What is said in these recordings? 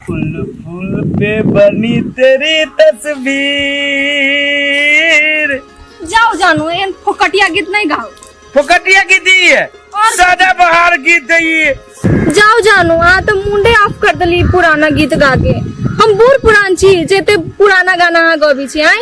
फूल फूल पे बनी तेरी तस्वीर जाओ जानू एहन फोकटिया गीत नहीं गाओ फोकटिया की दी है और- सदा बहार गीत है ये जाओ जानू आ तो मुंडे ऑफ कर दली पुराना गीत गा के हम बूढ़ पुरान छी जेते पुराना गाना हाँ गबी छी आई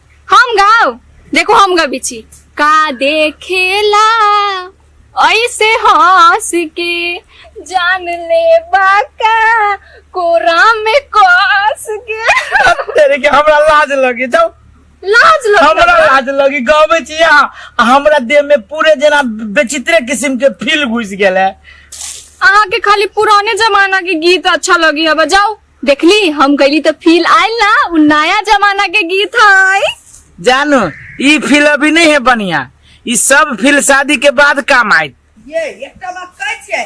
हम गाओ देखो हम गबी छी का देखेला ऐसे हंस के जान ले बाका कोरा में कस के तेरे के हमरा लाज लगे जाओ लाज लग हमरा लाज लगी गावे छी यहाँ आ हमरा देह में पूरे जना विचित्र किस्म के फील घुस गेल है अहाँ के खाली पुराने जमाना के गीत अच्छा लगी है बजाओ देखली हम गईली तो फील आयल ना उ नया जमाना के गीत है जानो ई फील अभी नहीं है बढ़िया ई सब फील शादी के बाद काम आयत ये एकटा बात कहै छियै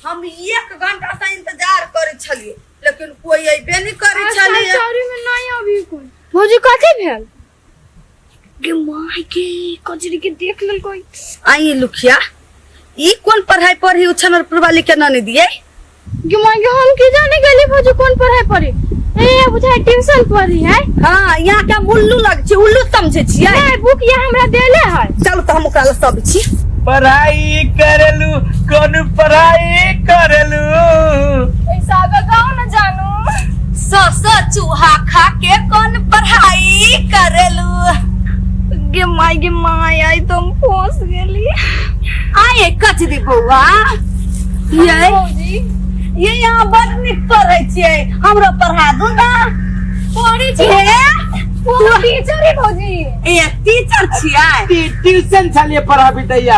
हम एक घंटा से इंतजार करै छलियै लेकिन कोई अइबे नहि करै छलैए में नहीं अभी कोई भौजी कथी भेल गे माय के कजरी के देख लेल कोई आई लुखिया ई कौन पढ़ाई पढ़ी उछन और पूर्वा लिखे न नहीं दिए गे माय के हम के जाने गली भौजी कौन पढ़ाई पढ़ी ए बुझाय ट्यूशन पढ़ी है हाँ यहाँ के हम उल्लू लग छी उल्लू समझे छियै ए बुक ये हमरा देले है चल तो हम ओकरा लग सब छी पढ़ाई करेलू कौन पढ़ाई करेलू सौ सौ चूहा खा के कौन पढ़ाई करेलू गे माय गे माय आई तो हम फंस गेली आए कच दी बौआ ये भौजी ये यहाँ बड निक पढ़े छिए हमरो पढ़ा दू ना पढ़ी छी ए, वो टीचर है भौजी ए टीचर छिए ट्यूशन छलिए पढ़ाबी दैया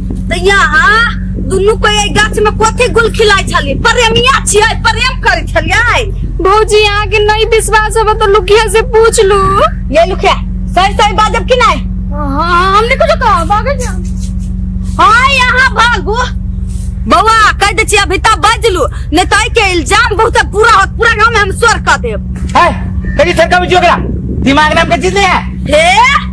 तऽ यहाँ दुनू कोई एहि गाछ में कथी गुल खिलाइ छलियै प्रेमिया छियै प्रेम करै छलियै भौजी यहाँ के नहीं विश्वास होगा तो लुकिया से पूछ लू ये लुखिया सही सही बाजब कि नहीं हाँ हमने कुछ कहा भागल जा हाँ यहाँ भागू बौआ कह दे छियै अभी तक बजलू नहीं तो एहि के इल्जाम बहुत पूरा होत पूरा गाँव में हम स्वर कर देब है कहीं सरका बुझियो करा दिमाग नाम का चीज नहीं है हे